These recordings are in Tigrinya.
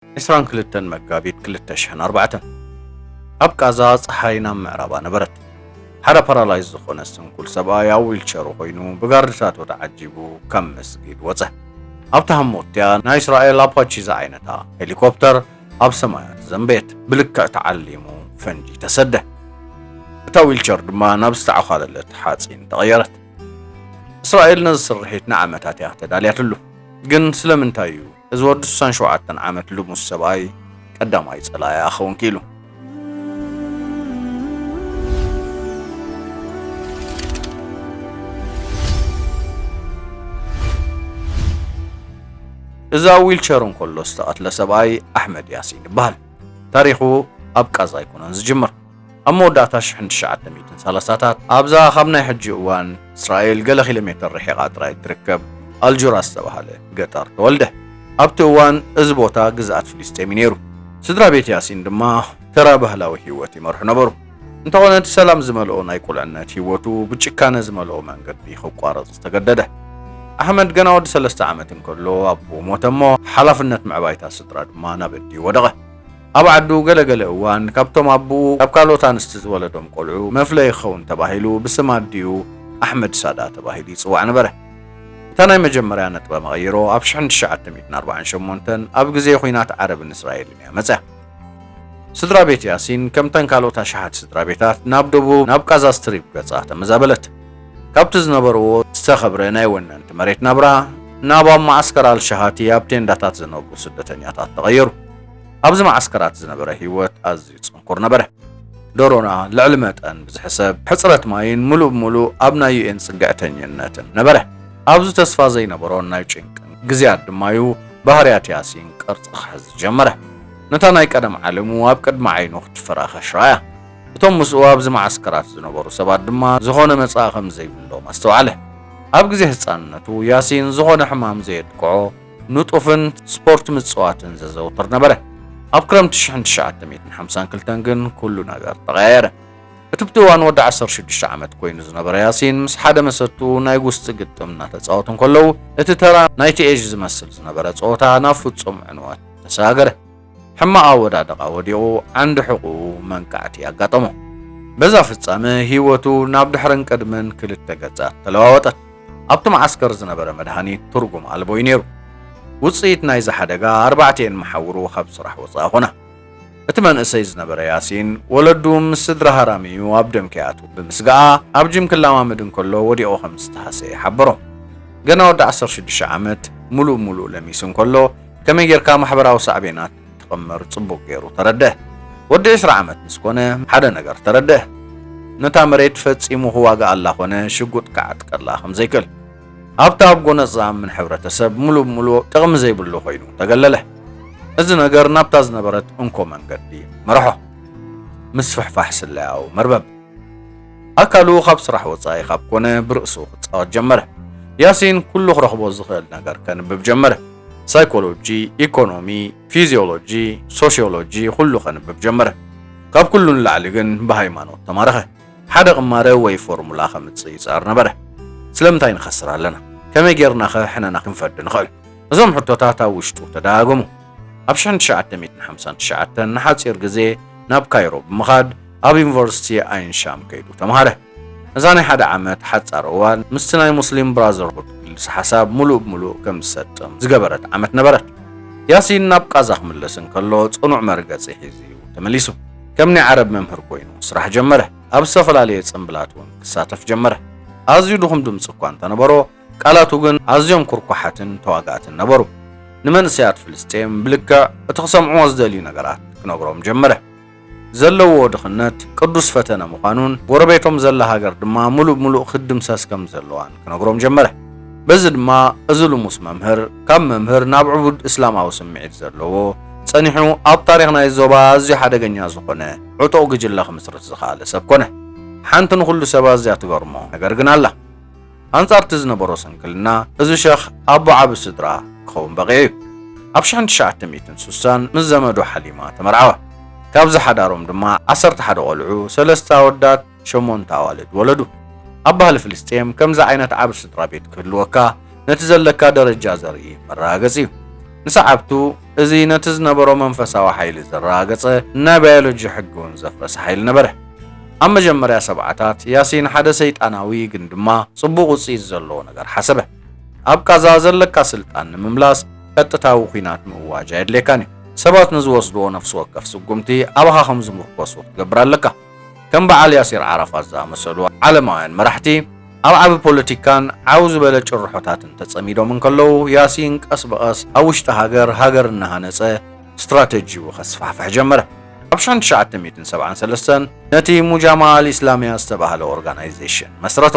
ዕስራን ክልተን መጋቢት ክልተ ሽሕን ኣርባዕተን ኣብ ቃዛ ፀሓይ ናብ ምዕራባ ነበረት። ሓደ ፓራላይዝ ዝኾነ ስንኩል ሰብኣይ ኣብ ዊልቸሩ ኮይኑ ብጋርድታቱ ተዓጂቡ ካብ መስጊድ ወፀ። ኣብታ ህሞትያ ናይ እስራኤል ኣፓቺ ዝዓይነታ ሄሊኮፕተር ኣብ ሰማያት ዘንበየት። ብልክዕ ተዓሊሙ ፈንጂ ተሰደ። እታ ዊልቸር ድማ ናብ ዝተዓዃለለት ሓፂን ተቐየረት። እስራኤል ነዚ ስርሒት ንዓመታት እያ ተዳልያትሉ። ግን ስለምንታይ እዩ እዚ ወዲ ስሳን ሸውዓተን ዓመት ልሙስ ሰብኣይ ቀዳማይ ጸላኢኣ ክኸውን ክኢሉ። እዚ ኣብ ዊልቸር እንከሎ ዝተቐትለ ሰብኣይ ኣሕመድ ያሲን ይበሃል። ታሪኹ ኣብ ቃዛ ኣይኮነን ዝጅምር። ኣብ መወዳእታ ሽሕን ትሽዓተ ሚእትን ሰላሳታት፣ ኣብዛ ካብ ናይ ሕጂ እዋን እስራኤል ገለ ኪሎሜተር ርሒቓ ጥራይ እትርከብ ኣልጁራ ዝተባህለ ገጠር ተወልደ። ኣብቲ እዋን እዚ ቦታ ግዝኣት ፍልስጤም እዩ ነይሩ። ስድራ ቤት ያሲን ድማ ተራ ባህላዊ ህይወት ይመርሑ ነበሩ። እንተዀነ እቲ ሰላም ዝመልኦ ናይ ቍልዕነት ህይወቱ ብጭካነ ዝመልኦ መንገዲ ክቋረጽ ዝተገደደ። ኣሕመድ ገና ወዲ ሰለስተ ዓመት እንከሎ ኣቦኡ ሞተ እሞ ሓላፍነት ምዕባይ'ታ ስድራ ድማ ናብ ኣዲኡ ወደቐ። ኣብ ዓዱ ገለ ገለ እዋን ካብቶም ኣቡኡ ካብ ካልኦት ኣንስቲ ዝወለዶም ቆልዑ መፍለዪ ክኸውን ተባሂሉ ብስም ኣዲኡ ኣሕመድ ሳዳ ተባሂሉ ይጽዋዕ ነበረ። እታ ናይ መጀመርያ ነጥበ መቐይሮ ኣብ ሽሕን ትሽዓተ ሚእትን ኣርባዓን ሸሞንተን ኣብ ግዜ ኹናት ዓረብን እስራኤልን እያ መጽያ። ስድራ ቤት ያሲን ከምተን ካልኦት ኣሽሓት ስድራ ቤታት ናብ ደቡብ ናብ ቃዛ ስትሪፕ ገጻ ተመዛበለት። ካብቲ ዝነበርዎ ዝተኸብረ ናይ ወነንቲ መሬት ናብራ ናብ ኣብ መዓስከር ኣልሸሃቲ ኣብ ቴንዳታት ዝነብሩ ስደተኛታት ተቐየሩ። ኣብዚ መዓስከራት ዝነበረ ህይወት ኣዝዩ ጽንኩር ነበረ። ዶሮና ልዕሊ መጠን ብዝሕሰብ ሕጽረት ማይን ምሉእ ብምሉእ ኣብ ናይ ዩኤን ጽግዕተኝነትን ነበረ። ኣብዚ ተስፋ ዘይነበሮን ናይ ጭንቅን ግዜያት ድማ'ዩ ባህርያት ያሲን ቅርጺ ክሕዝ ዝጀመረ። ነታ ናይ ቀደም ዓለሙ ኣብ ቅድሚ ዓይኑ ክትፈራኸሽ ረኣያ። እቶም ምስኡ ኣብዚ መዓስከራት ዝነበሩ ሰባት ድማ ዝዀነ መጻኢ ኸም ዘይብሎም ኣስተውዓለ። ኣብ ግዜ ህጻንነቱ፣ ያሲን ዝዀነ ሕማም ዘየጥቅዖ፣ ንጡፍን ስፖርት ምጽዋትን ዘዘውትር ነበረ። ኣብ ክረምቲ ሽሕን ትሽዓተ ሚእትን ሓምሳን ክልተን ግን ኵሉ ነገር ተቐያየረ። እቲ ብቲ እዋን ወዲ ዓሰርተ ሽዱሽተ ዓመት ኰይኑ ዝነበረ ያሲን፣ ምስ ሓደ መሰቱ ናይ ጕስጢ ግጥም እናተጻወቱ እንከለዉ፣ እቲ ተራ ናይቲ ኤዥ ዝመስል ዝነበረ ጸወታ ናብ ፍጹም ዕንወት ተሰጋገረ። ሕማቕ ኣወዳድቓ ወዲቑ ዓንዲ ሕቝኡ መንቃዕቲ ኣጋጠሞ። በዛ ፍጻመ ህይወቱ ናብ ድሕርን ቅድምን ክልተ ገጻት ተለዋወጠት። ኣብቲ መዓስከር ዝነበረ መድሃኒት ትርጉም ኣልቦ'ዩ ነይሩ። ውጽኢት ናይዚ ሓደጋ ኣርባዕቲኤን መሓውሩ ካብ ስራሕ ወጻኢ ኰና። እቲ መንእሰይ ዝነበረ ያሲን፣ ወለዱ ምስ ስድራ ሃራሚ'ዩ ኣብ ደም ከይኣትዉ ብምስጋኣ፣ ኣብ ጂም ክለማመድ እንከሎ ወዲቑ ከም ዝተሃሰየ ሓበሮም። ገና ወዲ ዓሰርተ ሽዱሽተ ዓመት፣ ምሉእ ብምሉእ ለሚሱ እንከሎ፣ ከመይ ጌርካ ማሕበራዊ ሳዕቤናት ትቕምር ጽቡቕ ገይሩ ተረድእ። ወዲ ዕስራ ዓመት ምስ ኮነ ሓደ ነገር ተረድእ፣ ነታ መሬት ፈጺሙ ክዋግኣላ ኮነ ሽጉጥ ክዓጥቀላ ከም ዘይክእል። ኣብቲ ኣብ ጎነጽ ዝኣምን ሕብረተሰብ ምሉእ ብምሉእ ጥቕሚ ዘይብሉ ኮይኑ ተገለለ። እዚ ነገር ናብታ ዝነበረት እንኮ መንገዲ መርሖ፣ ምስፍሕፋሕ ስለያዊ መርበብ። ኣካሉ ካብ ስራሕ ወጻኢ ካብ ኮነ ብርእሱ ክጻወት ጀመረ። ያሲን ኩሉ ክረኽቦ ዝኽእል ነገር ከንብብ ጀመረ። ሳይኮሎጂ፣ ኢኮኖሚ፣ ፊዚዮሎጂ፣ ሶሽዮሎጂ ኹሉ ከንብብ ጀመረ። ካብ ኩሉ ንላዕሊ ግን ብሃይማኖት ተማረኸ። ሓደ ቅማረ ወይ ፎርሙላ ከምጽእ ይጽዕር ነበረ። ስለምንታይ ንኸስር ኣለና? ከመይ ጌርናኸ ሕነና ክንፈዲ ንኽእል? እዞም ሕቶታት ኣብ ውሽጡ ተደጋገሙ። ኣብ ሽሕን ትሽዓተ ሚእትን ሓምሳን ትሽዓተን ንሓጺር ግዜ ናብ ካይሮ ብምኻድ ኣብ ዩኒቨርሲቲ ኣይን ሻም ከይዱ ተማሃረ። እዛ ናይ ሓደ ዓመት ሓጻር እዋን ምስቲ ናይ ሙስሊም ብራዘርሁድ ክልሰ ሓሳብ ምሉእ ብምሉእ ከም ዝሰጥም ዝገበረት ዓመት ነበረት። ያሲን ናብ ቓዛ ክምለስ እንከሎ ጽኑዕ መርገጺ ሒዙ'ዩ ተመሊሱ። ከም ናይ ዓረብ መምህር ኮይኑ ስራሕ ጀመረ። ኣብ ዝተፈላለየ ጽምብላት እውን ክሳተፍ ጀመረ። ኣዝዩ ድኹም ድምጺ እኳ እንተነበሮ፣ ቃላቱ ግን ኣዝዮም ኩርኳሓትን ተዋጋእትን ነበሩ። ንመንእሰያት ፍልስጤም ብልክዕ እቲ ክሰምዕዎ ዝደልዩ ነገራት ክነግሮም ጀመረ። ዘለዎ ድኽነት ቅዱስ ፈተነ ምዃኑን ጎረቤቶም ዘላ ሃገር ድማ ምሉእ ብምሉእ ክትድምሰስ ከም ዘለዋን ክነግሮም ጀመረ። በዚ ድማ እዚ ልሙስ መምህር ካብ መምህር ናብ ዕቡድ እስላማዊ ስምዒት ዘለዎ ጸኒሑ ኣብ ታሪኽ ናይዚ ዞባ ኣዝዩ ሓደገኛ ዝኾነ ዕጡቕ ግጅለ ክምስርት ዝኸኣለ ሰብ ኮነ። ሓንቲ ንኹሉ ሰብ ኣዝያ ትገርሞ ነገር ግን ኣላ። ኣንጻር'ቲ ዝነበሮ ስንክልና፣ እዚ ሸኽ ኣቦ ዓቢ ስድራ ክኸውን በቒዑ እዩ። ኣብ ሽሕን ትሽዓተ ሚእትን ሱሳን ምስ ዘመዱ ሓሊማ ተመርዓወ። ካብዚ ሓዳሮም ድማ ዓሰርተ ሓደ ቆልዑ፣ ሰለስተ ኣወዳት፣ ሸሞንተ ኣዋልድ ወለዱ። ኣብ ባህሊ ፍልስጤም ከምዚ ዓይነት ዓቢ ስድራቤት ክህልወካ ነቲ ዘለካ ደረጃ ዘርኢ መረጋገጺ እዩ። ንሰዓብቱ፣ እዚ ነቲ ዝነበሮ መንፈሳዊ ሓይሊ ዘረጋገጸ፣ ናይ ባዮሎጂ ሕጊ እውን ዘፍረሰ ሓይሊ ነበረ። ኣብ መጀመርያ ሰብዓታት፣ ያሲን ሓደ ሰይጣናዊ ግን ድማ ጽቡቕ ውጽኢት ዘለዎ ነገር ሓሰበ። ኣብ ቓዛ ዘለካ ስልጣን ንምምላስ ቀጥታዊ ኲናት ምእዋጅ ኣየድልየካን እዩ። ሰባት ንዝወስድዎ ነፍሲ ወከፍ ስጉምቲ ኣባኻ ከም ዝምርኮሱ ክትገብር ኣለካ። ከም በዓል ያሲር ዓራፋት ዝኣመሰሉ ዓለማውያን መራሕቲ ኣብ ዓቢ ፖለቲካን ዓው ዝበለ ጭርሖታትን ተጸሚዶም እንከለዉ፣ ያሲን ቀስ ብቐስ ኣብ ውሽጢ ሃገር፣ ሃገር እናሃነጸ ስትራተጂኡ ከስፋሕፍሕ ጀመረ። ኣብ ሽሕን ትሽዓተ ሚእትን ሰብዓን ሰለስተን ነቲ ሙጃማዓ ኣል ኢስላሚያ ዝተባህለ ኦርጋናይዜሽን መስረቶ።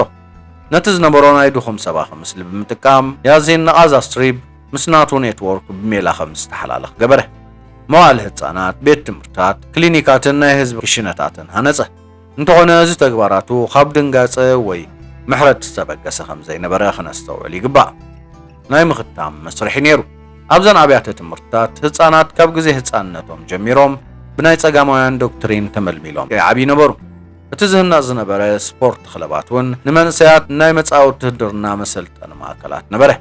ነቲ ዝነበሮ ናይ ድኹም ሰባኺ ምስሊ ብምጥቃም፣ ያሲን ንቓዛ ስትሪብ፣ ምስ ናቱ ኔትዎርክ ብሜላ ከም ዝተሓላለኽ ገበረ። መዋእለ ህጻናት፣ ቤት ትምህርትታት፣ ክሊኒካትን ናይ ህዝቢ ክሽነታትን ሃነጸ። እንተኾነ እዚ ተግባራቱ ካብ ድንጋጸ ወይ ምሕረት ዝተበገሰ ከም ዘይነበረ ክነስተውዕል ይግባእ። ናይ ምኽታም መስርሒ ነይሩ። ኣብዘን ኣብያተ ትምህርትታት ህጻናት ካብ ግዜ ህጻንነቶም ጀሚሮም ብናይ ጸጋማውያን ዶክትሪን ተመልሚሎም ከይዓብዩ ነበሩ። እቲ ዝህነጽ ዝነበረ ስፖርት ክለባት እውን ንመንእሰያት ናይ መጻኢ ውትህድርና መሰልጠኒ ማእከላት ነበረ።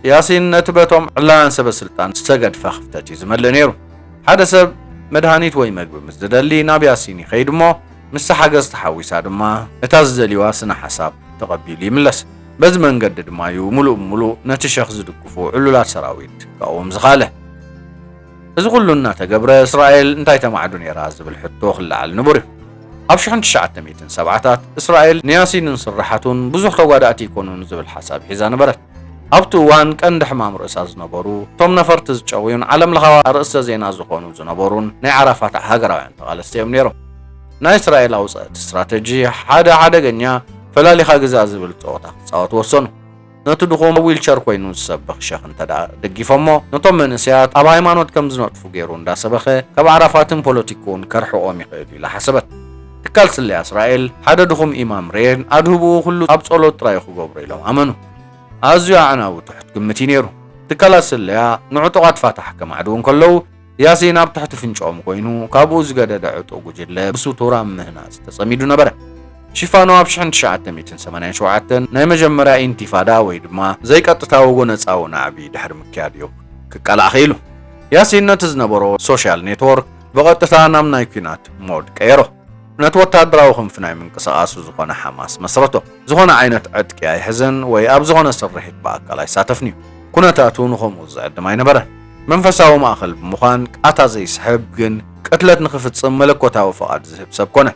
ያሲን ነቲ በቶም ዕላውያን ሰበስልጣን ዝተገድፈ ክፍተት እዩ ዝመልእ ነይሩ። ሓደ ሰብ መድሃኒት ወይ መግቢ ምስ ዝደሊ ናብ ያሲን ይኸይድ እሞ ምስቲ ሓገዝ ተሓዊሳ ድማ ነታ ዝደልዩዋ ስነ ሓሳብ ተቐቢሉ ይምለስ። በዚ መንገዲ ድማ እዩ ምሉእ ብምሉእ ነቲ ሸኽ ዝድግፉ ዕሉላት ሰራዊት ክቃወም ዝኸኣለ። እዚ ኩሉ እናተገብረ እስራኤል እንታይ ተማዕዱ ነይራ ዝብል ሕቶ ክለዓል ንቡር እዩ። ኣብ ሽሕን ትሽዓተ ሚእትን ሰብዓታት እስራኤል ንያሲንን ስርሓቱን ብዙሕ ተጓዳእቲ ኣይኮኑን ዝብል ሓሳብ ሒዛ ነበረት። ኣብቲ እዋን ቀንዲ ሕማም ርእሳ ዝነበሩ፣ እቶም ነፈርቲ ዝጨውዩን ዓለምለኻዊ ኣርእስተ ዜና ዝኾኑ ዝነበሩን ናይ ዓራፋት ሃገራውያን ተቓለስቲ እዮም ነይሮም። ናይ እስራኤል ኣውጸእቲ ስትራተጂ ሓደ ሓደገኛ ፈላሊኻ ግዛእ ዝብል ጸወታ ክጻወቱ ወሰኑ። ነቲ ድኹም ኣብ ዊልቸር ኮይኑ ዝሰብኽ ሸኽ እንተድኣ ደጊፎሞ፣ ነቶም መንእሰያት ኣብ ሃይማኖት ከም ዝነጥፉ ገይሩ እንዳሰበኸ ካብ ዓራፋትን ፖለቲክኡን ከርሕቖም ይኽእል ኢላ ሓሰበት። ትካል ስለያ እስራኤል ሓደ ድኹም ኢማም ርኤን ኣድህብኡ ኩሉ ኣብ ጸሎት ጥራዩ ክገብሮ ኢሎም ኣመኑ። ኣዝዩ ኣዕናዊ ትሑት ግምት እዩ ነይሩ። ትካላት ስለያ ንዕጡቓት ፋታሕ ከማዕድዉ እንከለዉ ያሲን ኣብ ትሕቲ ፍንጭኦም ኮይኑ ካብኡ ዝገደደ ዕጡቕ ጉጅለ ብስቱር ኣብ ምህናጽ ተጸሚዱ ነበረ። ሽፋኑ ኣብ ሽሕን ትሽዓተ ሚእትን ሰማንያን ሸውዓተን ናይ መጀመርያ ኢንቲፋዳ ወይ ድማ ዘይቀጥታዊ ጎነጻዊ ናዕቢ ድሕሪ ምክያድ እዩ ክቃላዕ ክኢሉ። ያሲን ነቲ ዝነበሮ ሶሻል ኔትዎርክ ብቐጥታ ናብ ናይ ኲናት ሞድ ቀየሮ። ነቲ ወተሃደራዊ ክንፊ ናይ ምንቅስቓሱ ዝኾነ ሓማስ መስረቶ። ዝኾነ ዓይነት ዕጥቂ ኣይሕዝን ወይ ኣብ ዝኾነ ስርሒት ብኣካል ኣይሳተፍን'ዩ። ኩነታቱ ንኸምኡ ዝዕድም ኣይነበረን። መንፈሳዊ ማእከል ብምዃን ቃታ ዘይስሕብ ግን ቅትለት ንኽፍጽም መለኮታዊ ፍቓድ ዝህብ ሰብ ኮነ።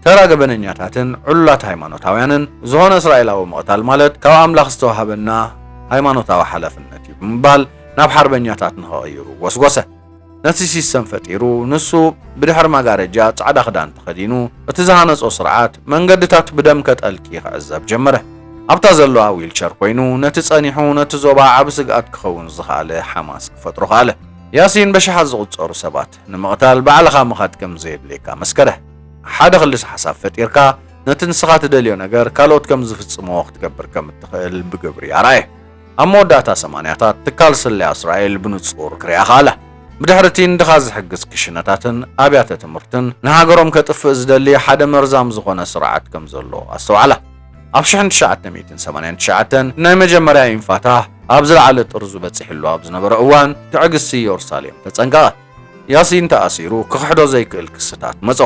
ተራ ገበነኛታትን ዕሉላት ሃይማኖታውያንን፣ ዝኾነ እስራኤላዊ ምቕታል ማለት ካብ ኣምላኽ ዝተዋህበና ሃይማኖታዊ ሓላፍነት'ዩ ብምባል ናብ ሓርበኛታት ንኸቕይሩ ጎስጎሰ። ነቲ ሲስተም ፈጢሩ ንሱ ብድሕሪ መጋረጃ ጻዕዳ ክዳን ተኸዲኑ እቲ ዝሃነጾ ስርዓት መንገድታት ብደም ከጠልቂ ክዕዘብ ጀመረ። ኣብታ ዘለዋ ዊልቸር ኮይኑ ነቲ ጸኒሑ ነቲ ዞባ ዓቢ ስግኣት ክኸውን ዝኸኣለ ሓማስ ክፈጥሮ ከኣለ። ያሲን በሽሓት ዝቑጸሩ ሰባት ንምቕታል ባዕልኻ ምኻድ ከም ዘየድልየካ መስከረ። ሓደ ክልስ ሓሳብ ፈጢርካ ነቲ ንስኻ ትደልዮ ነገር ካልኦት ከም ዝፍጽምዎ ክትገብር ከም እትኽእል ብግብሪ ኣርኣየ። ኣብ መወዳእታ ሰማንያታት፣ ትካል ስለያ እስራኤል ብንጹር ክርኣ ከኣለ። ብድሕሪ እቲ ንድኻ ዝሕግዝ ክሽነታትን ኣብያተ ትምህርትን፣ ንሃገሮም ከጥፍእ ዝደሊ ሓደ መርዛም ዝዀነ ስርዓት ከም ዘሎ ኣስተውዓላ። ኣብ ሽሕን ትሽዓተ ሚእትን ሰማንያን ትሽዓተን፣ ናይ መጀመርያ ኢንፋታህ ኣብ ዝለዓለ ጥርዙ በጺሕሉ ኣብ ዝነበረ እዋን፣ ትዕግስቲ የሩሳሌም ተጸንቀቐት። ያሲን ተኣሲሩ፣ ክኽሕዶ ዘይክእል ክስታት መጾ።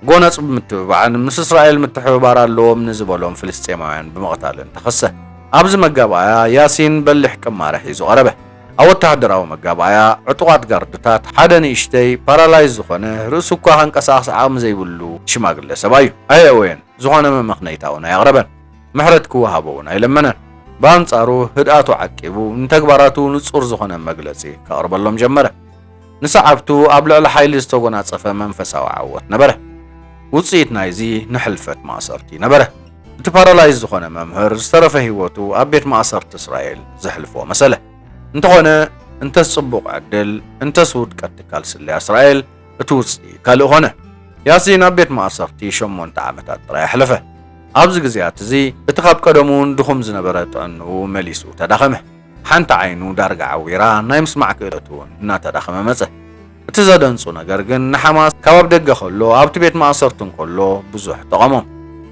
ጎነጽ ብምትብባዕን ምስ እስራኤል ምትሕብባር ኣለዎም ንዝበሎም ፍልስጤማውያን ብምቕታልን ተኸሰ። ኣብዚ መጋባእያ ያሲን በሊሕ ቅማረ ሒዙ ቀረበ። ኣብ ወተሃደራዊ መጋባእያ ዕጡቓት ጋርድታት ሓደ ንእሽተይ ፓራላይዝ ዝኾነ ርእሱ እኳ ከንቀሳቕስ ዓቕሚ ዘይብሉ ሽማግለ ሰብኣይ'ዩ። ኣየእወየን፣ ዝኾነ መመኽነይታ'ውን ኣየቕረበን። ምሕረት ክወሃቦ'ውን ኣይለመነን። ብኣንጻሩ ህድኣቱ ዓቂቡ ንተግባራቱ ንጹር ዝኾነ መግለጺ ከቕርበሎም ጀመረ። ንሰዓብቱ ኣብ ልዕሊ ሓይሊ ዝተጎናጸፈ መንፈሳዊ ዓወት ነበረ። ውጽኢት ናይዚ ንሕልፈት ማእሰርቲ ነበረ። እቲ ፓራላይዝ ዝኾነ መምህር ዝተረፈ ህይወቱ ኣብ ቤት ማእሰርቲ እስራኤል ዘሕልፎ መሰለ። እንተኾነ እንተስ ጽቡቕ ዕድል እንተስ ውድቀት ትካል ስለያ እስራኤል እቲ ውጽኢት ካልእ ኮነ። ያሲን ኣብ ቤት ማእሰርቲ ሸሞንተ ዓመታት ጥራይ ኣሕለፈ። ኣብዚ ግዜያት እዚ እቲ ካብ ቀደሙውን ድኹም ዝነበረ ጥዕንኡ መሊሱ ተዳኸመ። ሓንቲ ዓይኑ ዳርጋ ዓዊራ፣ ናይ ምስማዕ ክእለቱ'ውን እናተዳኸመ መጸ። እቲ ዘደንጹ ነገር ግን ንሓማስ ካብ ኣብ ደገ ከሎ ኣብቲ ቤት ማእሰርቲ እንከሎ ብዙሕ ጠቐሞም።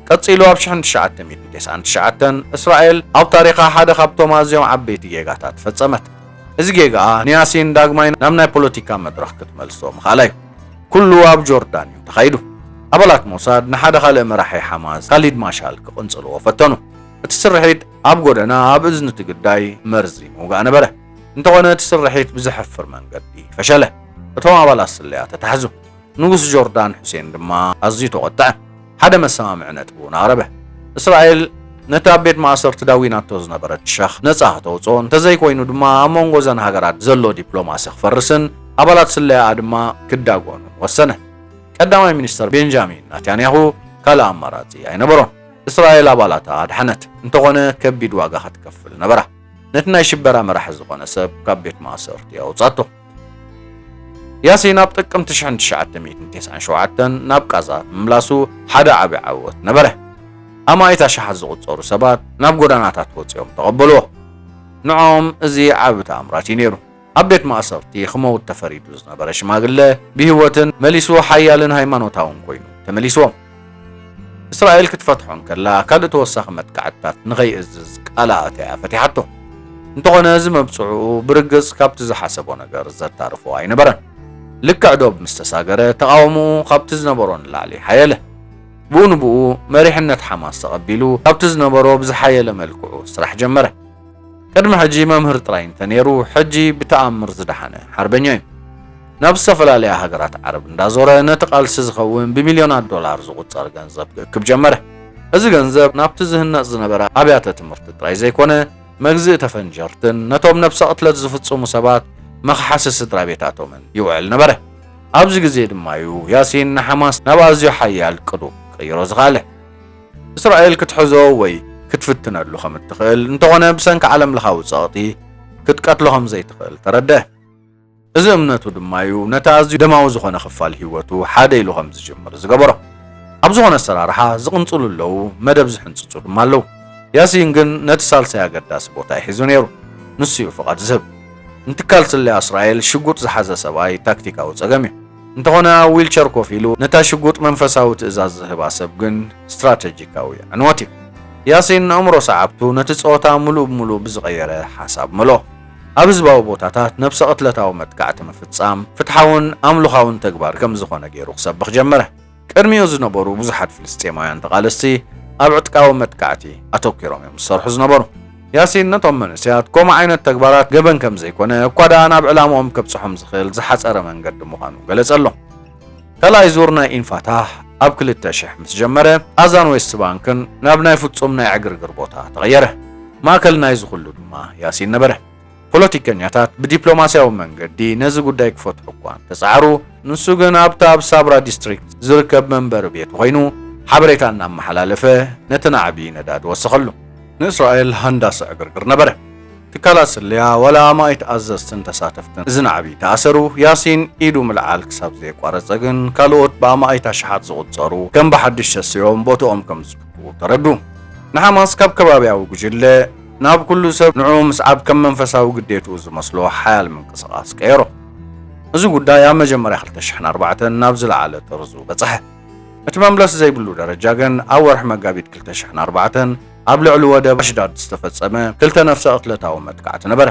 ቀጺሉ ኣብ ሽሕን ትሽዓተ ሚእትን ተስዓን ትሽዓተን እስራኤል ኣብ ታሪኻ ሓደ ካብቶም ኣዝዮም ዓበይቲ ጌጋታት ፈጸመት። እዚ ጌጋኣ ንያሲን ዳግማይ ናብ ናይ ፖለቲካ መድረኽ ክትመልሶ ምኽኣላ'ዩ። ኩሉ ኣብ ጆርዳን'ዩ ተኻይዱ። ኣባላት ሞሳድ ንሓደ ካልእ መራሒ ሓማስ ካሊድ ማሻል ክቕንጽልዎ ፈተኑ። እቲ ስርሒት፣ ኣብ ጎደና ኣብ እዝኒ እቲ ግዳይ መርዚ ምውጋእ ነበረ። እንተኾነ እቲ ስርሒት ብዘሕፍር መንገዲ ፈሸለ። እቶም ኣባላት ስለያ ተታሕዙ። ንጉስ ጆርዳን ሑሴን ድማ ኣዝዩ ተቖጥዐ። ሓደ መሰማምዒ ነጥቢ እውን ኣቕረበ። እስራኤል ነቲ ኣብ ቤት ማእሰርቲ ዳዊናቶ ዝነበረት ሸኽ ነጻ ክተውጽኦ፣ እንተዘይኮይኑ ድማ ኣብ መንጎ እዘን ሃገራት ዘሎ ዲፕሎማሲ ክፈርስን ኣባላት ስለያኣ ድማ ክዳጎኑን ወሰነ። ቀዳማይ ሚኒስተር ቤንጃሚን ናታንያሁ ካልእ ኣማራጺ ኣይነበሮን። እስራኤል ኣባላታ ኣድሓነት፣ እንተኾነ ከቢድ ዋጋ ክትከፍል ነበራ። ነቲ ናይ ሽበራ መራሒ ዝኾነ ሰብ ካብ ቤት ማእሰርቲ ኣውጻቶ። ያሲን ኣብ ጥቅምቲ 1997 ናብ ቃዛ ምምላሱ ሓደ ዓቢ ዓወት ነበረ። ኣማኢት ኣሽሓት ዝቑጸሩ ሰባት ናብ ጎዳናታት ወጺኦም ተቐበልዎ። ንዖኦም እዚ ዓቢ ተኣምራት እዩ ነይሩ። ኣብ ቤት ማእሰርቲ ክመውት ተፈሪዱ ዝነበረ ሽማግለ ብህይወትን መሊሱ ሓያልን ሃይማኖታውን ኮይኑ ተመሊሱዎም። እስራኤል ክትፈትሖ እንከላ ካልእ ተወሳኺ መጥቃዕትታት ንኸይእዝዝ ቃል ኣእትያ ፈቲሓቶ። እንተኾነ እዚ መብጽዕኡ ብርግጽ ካብቲ ዝሓሰቦ ነገር ዘታርፎ ኣይነበረን። ልክዕ ዶብ ምስ ተሳገረ ተቓውምኡ ካብቲ ዝነበሮ ንላዕሊ ሓየለ። ብኡ ንብኡ መሪሕነት ሓማስ ተቐቢሉ ካብቲ ዝነበሮ ብዝሓየለ መልክዑ ስራሕ ጀመረ። ቅድሚ ሕጂ መምህር ጥራይ እንተ ኔሩ ሕጂ ብተኣምር ዝደሓነ ሓርበኛ እዩ። ናብ ዝተፈላለያ ሃገራት ዓረብ እንዳዞረ ነቲ ቃልሲ ዝኸውን ብሚልዮናት ዶላር ዝቑጸር ገንዘብ ክእክብ ጀመረ። እዚ ገንዘብ ናብቲ ዝህነጽ ዝነበረ ኣብያተ ትምህርቲ ጥራይ ዘይኮነ መግዝኢ ተፈንጀርትን ነቶም ነብሰ ቅትለት ዝፍጽሙ ሰባት መኽሓሲ ስድራቤታቶምን ይውዕል ነበረ። ኣብዚ ግዜ ድማ'ዩ ያሲን ንሓማስ ናብ ኣዝዩ ሓያል ቅዱቕ ክቕይሮ ዝኸኣለ። እስራኤል ክትሕዞ ወይ ክትፍትነሉ ከም እትኽእል፣ እንተኾነ ብሰንኪ ዓለምለኻዊ ጸቕጢ ክትቀትሎ ከም ዘይትኽእል ተረድኣ። እዚ እምነቱ ድማ እዩ ነቲ ኣዝዩ ደማዊ ዝኾነ ክፋል ህይወቱ ሓደ ኢሉ ከም ዝጅምር ዝገበሮ። ኣብ ዝኾነ ኣሰራርሓ ዝቕንጽሉ ኣለዉ፣ መደብ ዝሕንጽጹ ድማ ኣለዉ። ያሲን ግን ነቲ ሳልሳይ ኣገዳሲ ቦታ እዩ ሒዙ ነይሩ፣ ንሱ እዩ ፍቓድ ዝህብ። ንትካል ስለያ እስራኤል ሽጉጥ ዝሓዘ ሰብኣይ ታክቲካዊ ጸገም እዩ። እንተኾነ ኣብ ዊልቸር ኮፍ ኢሉ ነታ ሽጉጥ መንፈሳዊ ትእዛዝ ዝህባ ሰብ ግን ስትራተጂካዊ ዕንወት እዩ። ያሲን ኣእምሮ ሰዓብቱ ነቲ ጸወታ ምሉእ ብምሉእ ብዝቐየረ ሓሳብ መልኦ። ኣብ ህዝባዊ ቦታታት ነብሰ ቅትለታዊ መጥቃዕቲ ምፍጻም ፍትሓውን ኣምልኾኣውን ተግባር ከም ዝኾነ ገይሩ ክሰብኽ ጀመረ። ቅድሚኡ ዝነበሩ ብዙሓት ፍልስጤማውያን ተቓለስቲ ኣብ ዕጥቃዊ መጥቃዕቲ ኣተኲሮም እዮም ዝሰርሑ ዝነበሩ። ያሲን ነቶም መንእሰያት ከምኡ ዓይነት ተግባራት ገበን ከም ዘይኰነ፣ እኳ ደኣ ናብ ዕላምኦም ከብጽሖም ዝኽእል ዝሓጸረ መንገዲ ምዃኑ ገለጸሎም። ካልኣይ ዙር ናይ ኢንፋታህ ኣብ ክልተ ሽሕ ምስ ጀመረ፣ ቓዛን ዌስት ባንክን ናብ ናይ ፍጹም ናይ ዕግርግር ቦታ ተቐየረ። ማእከል ናይዚ ዅሉ ድማ ያሲን ነበረ። ፖለቲከኛታት ብዲፕሎማስያዊ መንገዲ ነዚ ጉዳይ ክፈትሑ እኳ እንተጸዓሩ፣ ንሱ ግን ኣብቲ ኣብ ሳብራ ዲስትሪክት ዝርከብ መንበሪ ቤቱ ኰይኑ ሓበሬታ እናመሓላለፈ ነቲ ናዕቢ ነዳዲ ወሰኸሉ። ንእስራኤል ሃንዳሲ ዕግርግር ነበረ። ትካላት ስለያ፣ ዋላ ኣማኢት ኣዘዝትን ተሳተፍትን እዚ ናዕቢ ተኣሰሩ። ያሲን ኢዱ ምልዓል ክሳብ ዘየቋረጸ ግን ካልኦት ብኣማኢት ኣሽሓት ዝቝጸሩ ከም ብሓድሽ ተሲኦም ቦትኦም ከም ዝትክኡ ተረዱ። ንሓማስ ካብ ከባብያዊ ጕጅለ፣ ናብ ኩሉ ሰብ ንዕኡ ምስዓብ ከም መንፈሳዊ ግዴትኡ ዝመስሎ ሓያል ምንቅስቓስ ቀየሮ። እዚ ጉዳይ ኣብ መጀመርያ ክልተ ሽሕን ኣርባዕተን ናብ ዝለዓለ ጥርዙ በጽሐ። እቲ መምለሲ ዘይብሉ ደረጃ ግን ኣብ ወርሒ መጋቢት ክልተ ሽሕን ኣርባዕተን ኣብ ልዕሊ ወደብ ኣሽዳድ ዝተፈጸመ ክልተ ነፍሰ-ቅትለታዊ መጥቃዕቲ ነበረ።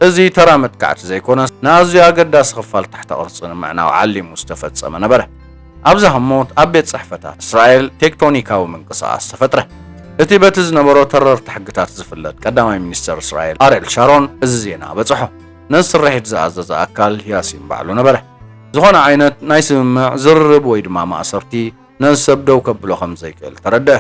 እዚ ተራ መጥቃዕቲ ዘይኮነስ ንኣዝዩ ኣገዳሲ ክፋል ትሕተ ቅርጺ ንምዕናው ዓሊሙ ዝተፈጸመ ነበረ። ኣብዛ ህሞት ኣብ ቤት ጽሕፈታት እስራኤል ቴክቶኒካዊ ምንቅስቓስ ተፈጥረ። እቲ በቲ ዝነበሮ ተረርቲ ሕግታት ዝፍለጥ ቀዳማይ ሚኒስተር እስራኤል ኣርየል ሻሮን እዚ ዜና በጽሖ። ነዚ ስርሒት ዝኣዘዘ ኣካል ያሲን ባዕሉ ነበረ። ዝኾነ ዓይነት ናይ ስምምዕ፣ ዝርርብ ወይ ድማ ማእሰርቲ ነዚ ሰብ ደው ከብሎ ከም ዘይክእል ተረድኣ።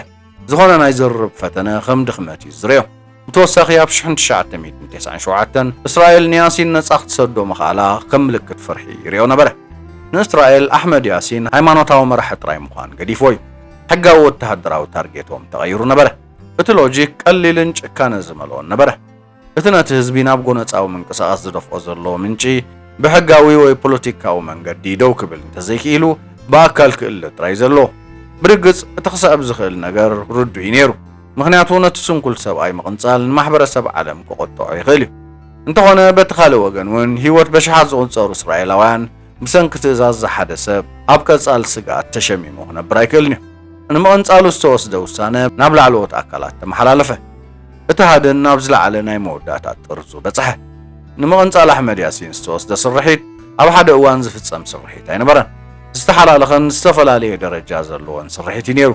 ዝኾነ ናይ ዝርርብ ፈተነ ከም ድኽመት እዩ ዝዝርዮ። ብተወሳኺ ኣብ ሽሕን ትሽዓተ ሚእትን ቴስዓን ሸውዓተን እስራኤል ንያሲን ነጻ ክትሰዶ ምኽኣላ ከም ምልክት ፍርሒ ይሪኦ ነበረ። ንእስራኤል ኣሕመድ ያሲን ሃይማኖታዊ መራሒ ጥራይ ምዃን ገዲፍዎ እዩ። ሕጋዊ ወተሃደራዊ ታርጌቶም ተቐይሩ ነበረ። እቲ ሎጂክ ቀሊልን ጭካነ ዝመልኦን ነበረ። እቲ ነቲ ህዝቢ ናብ ጎነጻዊ ምንቅስቓስ ዝደፍኦ ዘሎ ምንጪ ብሕጋዊ ወይ ፖለቲካዊ መንገዲ ደው ክብል እንተዘይክኢሉ ብኣካል ክእለ ጥራይ ዘሎ። ብርግጽ እቲ ክስዕብ ዝኽእል ነገር ርዱእ'ዩ ነይሩ። ምኽንያቱ ነቲ ስንኩል ሰብኣይ ምቕንጻል ንማሕበረሰብ ዓለም ክቖጥዖ ይኽእል እዩ። እንተኾነ በቲ ካልእ ወገን እውን ህይወት በሽሓት ዝቑጸሩ እስራኤላውያን ብሰንኪ ትእዛዝ እዚ ሓደ ሰብ ኣብ ቀጻሊ ስግኣት ተሸሚሙ ክነብር ኣይክእልን እዩ። ንምቕንጻሉ ዝተወስደ ውሳነ ናብ ላዕለዎት ኣካላት ተመሓላለፈ። እቲ ሃድን ናብ ዝለዓለ ናይ መወዳእታ ጥርዙ በጽሐ። ንምቕንጻል ኣሕመድ ያሲን ዝተወስደ ስርሒት ኣብ ሓደ እዋን ዝፍጸም ስርሒት ኣይነበረን። ዝተሓላለኸን ዝተፈላለየ ደረጃ ዘለዎን ስርሒት እዩ ነይሩ።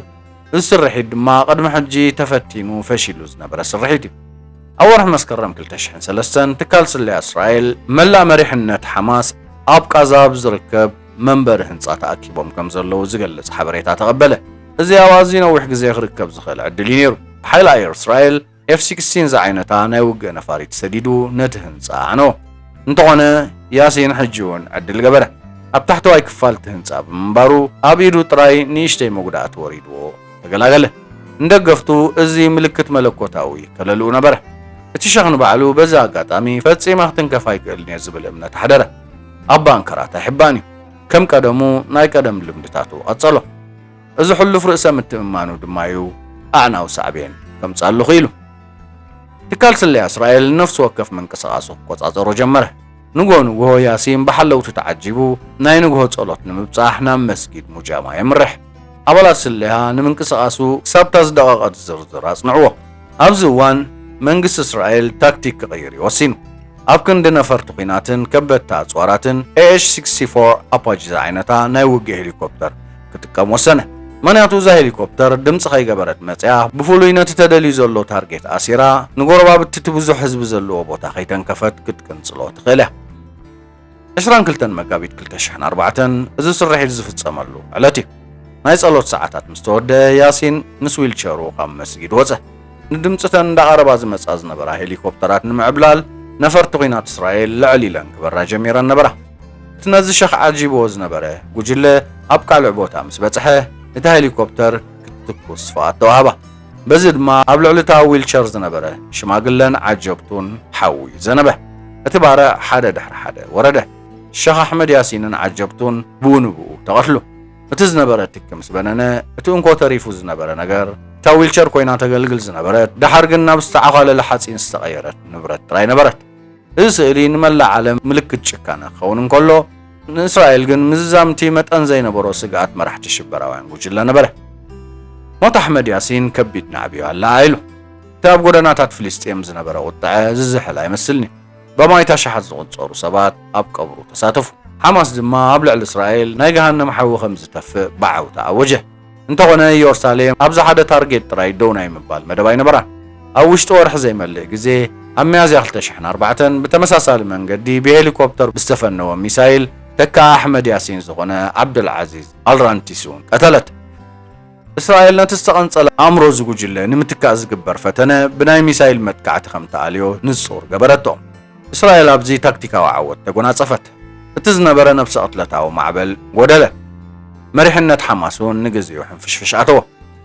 እዚ ስርሒት ድማ ቅድሚ ሕጂ ተፈቲኑ ፈሺሉ ዝነበረ ስርሒት እዩ። ኣብ ወርሒ መስከረም ክልተ ሽሕን ሰለስተን ትካል ስለያ እስራኤል መላእ መሪሕነት ሓማስ ኣብ ቓዛ ኣብ ዝርከብ መንበሪ ህንጻ ተኣኪቦም ከም ዘለዉ ዝገልጽ ሓበሬታ ተቐበለ። እዚ ኣብ ኣዝዩ ነዊሕ ግዜ ክርከብ ዝኽእል ዕድል እዩ ነይሩ። ብሓይሊ ኣየር እስራኤል ኤፍ ሲክስቲን ዝዓይነታ ናይ ውግእ ነፋሪት ሰዲዱ ነቲ ህንጻ ኣዕነዎ። እንተኾነ ያሲን ሕጂ'ውን ዕድል ገበረ። ኣብ ታሕተዋይ ክፋል እቲ ህንጻ ብምንባሩ ኣብ ኢዱ ጥራይ ንእሽተይ መጉዳእቲ ወሪድዎ ተገላገለ። ንደገፍቱ እዚ ምልክት መለኮታዊ ከለልኡ ነበረ። እቲ ሸኽ ንባዕሉ በዚ ኣጋጣሚ ፈጺመ ክትንከፍ ኣይክእልን'የ ዝብል እምነት ኣሕደረ። ኣብ ባንከራት ኣይሕባእን'ዩ። ከም ቀደሙ ናይ ቀደም ልምድታቱ ቀጸሎ። እዚ ሕሉፍ ርእሰ ምትእምማኑ ድማ'ዩ ኣዕናዊ ሳዕቤን ከምጽኣሉ ክኢሉ። ትካል ስለያ እስራኤል ንነፍሲ ወከፍ ምንቅስቓሱ ክቆጻጸሮ ጀመረ። ንግሆ ንግሆ ያሲን ብሓለውቱ ተዓጂቡ ናይ ንግሆ ጸሎት ንምብጻሕ ናብ መስጊድ ሙጃማ የምርሕ። ኣባላት ስለያ ንምንቅስቓሱ ክሳብ'ታ ዝደቐቐት ዝርዝር ኣጽንዕዎ። ኣብዚ እዋን መንግስቲ እስራኤል ታክቲክ ክቕይር'ዩ ወሲኑ። ኣብ ክንዲ ነፈርቲ ኲናትን ከበድቲ ኣጽዋራትን ኤኤች-ሲክስቲ ፎር ኣፓጂ ዝዓይነታ ናይ ውግእ ሄሊኮፕተር ክጥቀም ወሰነ። ምኽንያቱ እዛ ሄሊኮፕተር ድምጺ ከይገበረት መጺኣ ብፍሉይ ነቲ ተደልዩ ዘሎ ታርጌት ኣሲራ ንጎረባብቲ እቲ ብዙሕ ህዝቢ ዘለዎ ቦታ ከይተንከፈት ክትቅንጽሎ ትኽእል እያ። ዕስራን ክልተን መጋቢት ክልተ ሽሕን ኣርባዕተን እዚ ስርሒት ዝፍጸመሉ ዕለት እዩ። ናይ ጸሎት ሰዓታት ምስ ተወደኣ ያሲን ምስ ዊልቸሩ ካብ መስጊድ ወጸ። ንድምጺ እተን እንዳቐረባ ዝመጻ ዝነበራ ሄሊኮፕተራት ንምዕብላል ነፈርቲ ኲናት እስራኤል ልዕል ኢለን ክበራ ጀሚረን ነበራ። እቲ ነዚ ሸኽ ዓጂብዎ ዝነበረ ጉጅለ ኣብ ካልዕ ቦታ ምስ በጽሐ፣ እቲ ሄሊኮፕተር ክትትኩስ ፍቓድ ተዋህባ። በዚ ድማ ኣብ ልዕሊ እታ ዊልቸር ዝነበረ ሽማግለን ዓጀብቱን ሓዊ ዘነበ። እቲ ባርዕ ሓደ ድሕሪ ሓደ ወረደ። ሸኽ ኣሕመድ ያሲንን ዓጀብቱን ብኡ ንብኡ ተቐትሉ። እቲ ዝነበረ ትኪ ምስ በነነ፣ እቲ እንኮ ተሪፉ ዝነበረ ነገር፣ እታ ዊልቸር ኮይና ተገልግል ዝነበረት፣ ደሓር ግን ናብ ዝተዓዃለለ ሓጺን ዝተቐየረት ንብረት ጥራይ ነበረት። እዚ ስእሊ ንመላእ ዓለም ምልክት ጭካነ ክኸውን እንከሎ፣ ንእስራኤል ግን ምዝዛምቲ መጠን ዘይነበሮ ስግኣት መራሕቲ ሽበራውያን ጉጅለ ነበረ። ሞት ኣሕመድ ያሲን ከቢድ ናዕቢ'ዩ ኣለዓዒሉ። እቲ ኣብ ጎደናታት ፍልስጤም ዝነበረ ቁጠዐ ዝዝሕል ኣይመስልን'ዩ። በማይት ኣሽሓት ዝቑጸሩ ሰባት ኣብ ቀብሩ ተሳተፉ። ሓማስ ድማ ኣብ ልዕሊ እስራኤል ናይ ገሃነም ሓዊ ከም ዝተፍእ ብዓውታ ኣወጀ። እንተኾነ ኢዮርሳሌም ኣብዚ ሓደ ታርጌት ጥራይ ደው ናይ ምባል መደብ ኣይነበራን። ኣብ ውሽጢ ወርሒ ዘይመልእ ግዜ፣ ኣብ ሚያዝያ ክልተ ሽሕን ኣርባዕተን፣ ብተመሳሳሊ መንገዲ ብሄሊኮፕተር ብዝተፈነወ ሚሳይል ተካኢ ኣሕመድ ያሲን ዝኾነ ዓብደልዓዚዝ ኣልራንቲስ'ውን ቀተለት። እስራኤል ነቲ ዝተቐንጸለ ኣእምሮ እዚ ጉጅለ ንምትካእ ዝግበር ፈተነ ብናይ ሚሳይል መጥቃዕቲ ከምትኣልዮ ንጹር ገበረቶ። እስራኤል ኣብዚ ታክቲካዊ ዓወት ተጎናጸፈት። እቲ ዝነበረ ነብሰ ቅትለታዊ ማዕበል ጎደለ። መሪሕነት ሓማስ እውን ንግዚኡ ሕንፍሽፍሽ ኣተዎ።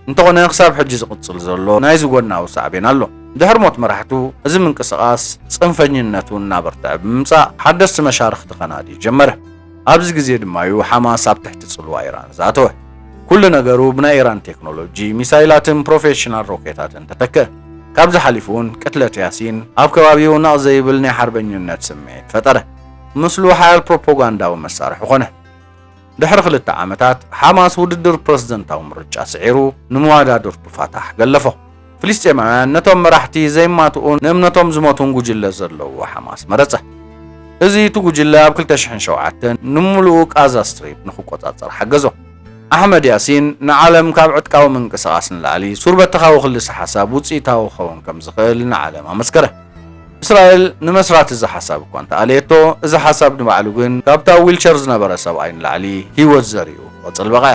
እንተኾነ ክሳብ ሕጂ ዝቕጽል ዘሎ ናይዚ ጎድናዊ ሳዕቤን ኣሎ። ድሕሪ ሞት መራሕቱ፣ እዚ ምንቅስቓስ ጽንፈኝነቱ እናበርትዐ ብምምጻእ ሓደስቲ መሻርኽቲ ከናዲ ጀመረ። ኣብዚ ግዜ ድማ እዩ ሓማስ ኣብ ትሕቲ ጽልዋ ኢራን ዝኣተወ። ኩሉ ነገሩ ብናይ ኢራን ቴክኖሎጂ፣ ሚሳይላትን ፕሮፌሽናል ሮኬታትን ተተክአ። ካብዚ ሓሊፉ'ውን ቅትለት ያሲን ኣብ ከባቢኡ ነቕ ዘይብል ናይ ሓርበኝነት ስምዒት ፈጠረ። ምስሉ ሓያል ፕሮፖጋንዳዊ መሳርሒ ኮነ። ድሕሪ ክልተ ዓመታት፣ ሓማስ ውድድር ፕረዚደንታዊ ምርጫ ስዒሩ ንመዋዳድርቱ ፋታሕ ገለፎ። ፍልስጤማውያን ነቶም መራሕቲ ዘይማትኡን ንእምነቶም ዝሞቱን ጉጅለ ዘለዎ ሓማስ መረጸ። እዚ እቲ ጉጅለ ኣብ ክልተ ሽሕን ሸውዓተን ንምሉኡ ቃዛ ስትሪፕ ንኽቆጻጸር ሓገዞ። ኣሕመድ ያሲን ንዓለም ካብ ዕጥቃዊ ምንቅስቓስ ንላዕሊ ሱር በተኻዊ ክልሰ ሓሳብ ውጽኢታዊ ክኸውን ከም ዝኽእል ንዓለም ኣመስከረ። እስራኤል ንመስራቲ እዚ ሓሳብ እኳ እንተ ኣለየቶ፣ እዚ ሓሳብ ንባዕሉ ግን ካብቲ ኣብ ዊልቸር ዝነበረ ሰብኣይ ንላዕሊ ህይወት ዘሪኡ ክቕጽል በቕዐ።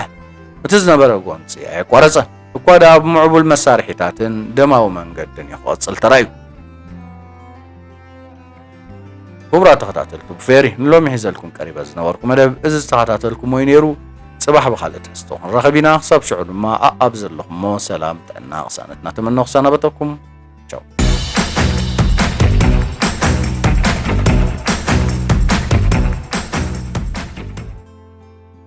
እቲ ዝነበረ ጎንጺ ኣየቋረጸን። እኳ ደኣ ብምዕቡል መሳርሒታትን ደማዊ መንገድን እዩ ክቕጽል ተራእዩ። ክቡራት ተኸታተልቲ ብፌሪ ንሎሚ ሒዘልኩም ቀሪበ ዝነበርኩ መደብ እዚ ዝተኸታተልኩሞ እዩ ነይሩ። ጽባሕ ብኻልእ ትሕዝቶ ክንራኸብ ኢና። ክሳብ ሽዑ ድማ ኣኣብ ዘለኹሞ ሰላም፣ ጥዕና፣ ቅሳነት እናተመነኹ ክሰናበተኩም።